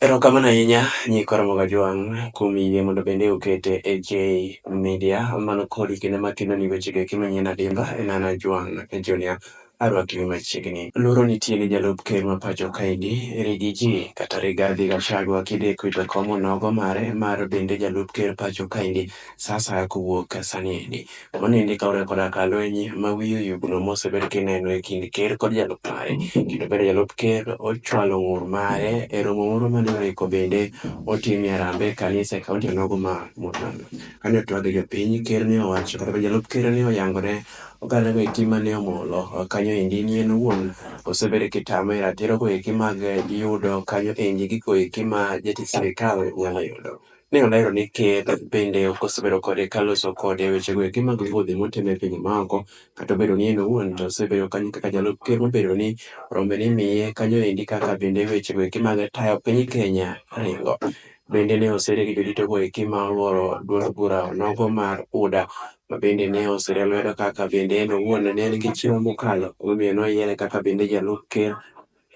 Erokamano ahinya Nyikwa Ramogi Ajwang' kuom yie mondo bende okete e J Media. Mano kodi kendo ema keloni wechego eki manyien adimba en an Ajwang' Junior. Arwakiwi machiegni. Luoro nitie ni jalup ker ma pacho kaegi, Rigiji kata Rigathi Gachagua kideko e jakom onogo mare mar bende jalup ker pacho kaendi saa asaya kowuok sani endi. Mano endi kaluwore koda ka lweny ma wiye oyugno mosebed kineno e kind ker kod jalup mare, kendo bende jalup ker ochwalo ng'ur mare e romo moro mane oriko bende otimie Harambee e kanisa e kaunti onogo ma Murang'a. Kane otwag gi jopiny, ker ne owacho kata obedo jalup ker ne oyango ne ogandago eki mane omolo kanyo endi ni en owuon osebed kitame ratirogo eki mag yudo kanyo endi gigo eki ma jatich sirikal nyalo yudo. Ne olero ni ker bende ok osebedo kode ka loso kode weche go eki mag wuodhe motimo e pinje maoko, kata obedo ni en owuon to osebedo kanyo kaka jalup ker mobedo ni rombe ni miye kanyo endi kaka bende weche go eki mag tayo piny Kenya ringo. Bende ne osere gi jodito go eki ma oluoro duond bura onogo mar UDA ma bende ne osere lwedo kaka bende en owuon ne en gi chiro mokalo omiyo noyiere kaka bende jalup ker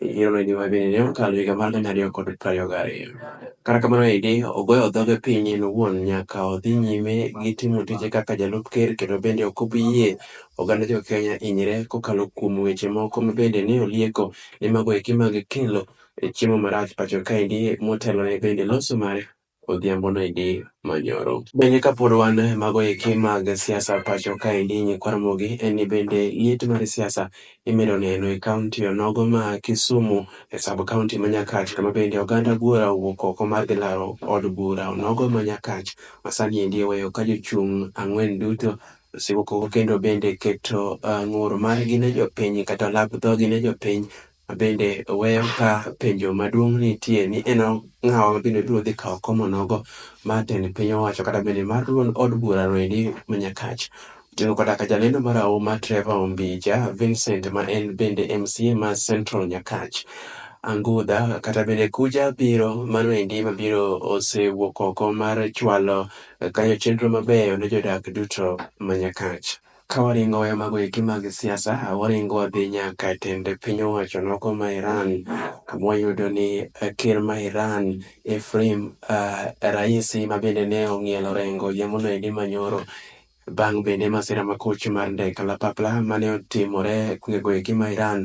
yiero ni gima bende ne okalo higa mar gana ariyo kod prariyo gariyo. Kata kamano Heidi ogoyo dhoge piny en owuon nyaka odhi nyime gi timo tije kaka jalup ker kendo bende ok obi yie oganda jo Kenya hinyre kokalo kuom weche moko ma bende ne olieko ni mago eki mag kelo chiemo marach pacho kaendi motelone bende loso mar odhiambo no idi manyoro. Bende kapod wan e mago eki mag siasa pacho kaendi nyikwa Ramogi en ni bende liet mar siasa imedo neno e kaunti onogo ma Kisumu e sub kaunti ma Nyakach kama bende oganda buora owuok oko mar dhi laro od bura onogo ma Nyakach ma sani endi oweyo ka jochung' ang'wen duto osewuok oko kendo bende keto ng'ur margi ne jopiny kata lap dhogi ne jopiny Bende weyo ka penjo maduong' nitie ni en ng'awa ma bende biro dhi kawo komo nogo mar tend piny owacho kata bende mar duond od bura noendi ma Nyakach. Oting'o koda ka jalendo marahuma Trevor Ombija, Vincent ma en bende MCA ma Central Nyakach, Angudha kata bende Kuja biro mano endi mabiro osewuok oko mar chwalo kanyo chenro mabeyo ne jodak duto ma Nyakach. Ka waringo waya mago eki mag siasa, waringo wadhi nyaka e tend piny owacho nogo ma Iran, kama wayudo ni ker ma Iran Ephraim Raisi ma bende ne ong'iel orengo odhiambono endi ma nyoro bang' bende masira makoch mar ndek kalapapla mane otimore e gwengego eki ma Iran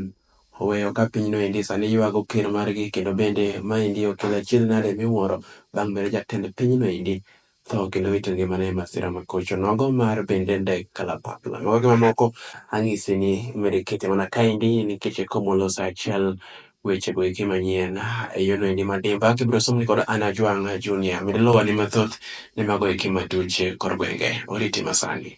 oweyo ka pinyno endi sani ywago ker margi kendo bende ma endi okelo achiedh nade miwuoro bang' bende jatend pinyno endi tho kendo wito ngimane e masira ma kocho nogo mar bende ndek kalapapla. Mago gi mamoko anyisi ni imedo ikete mana kaendi nikech e komolo sa achiel wechego eki manyien e yono endi madimba kibiro somni kod Anna Jwang' Junior. Med luwa ni mathoth ne mago eki matuch kor gwenge. Oriti masani.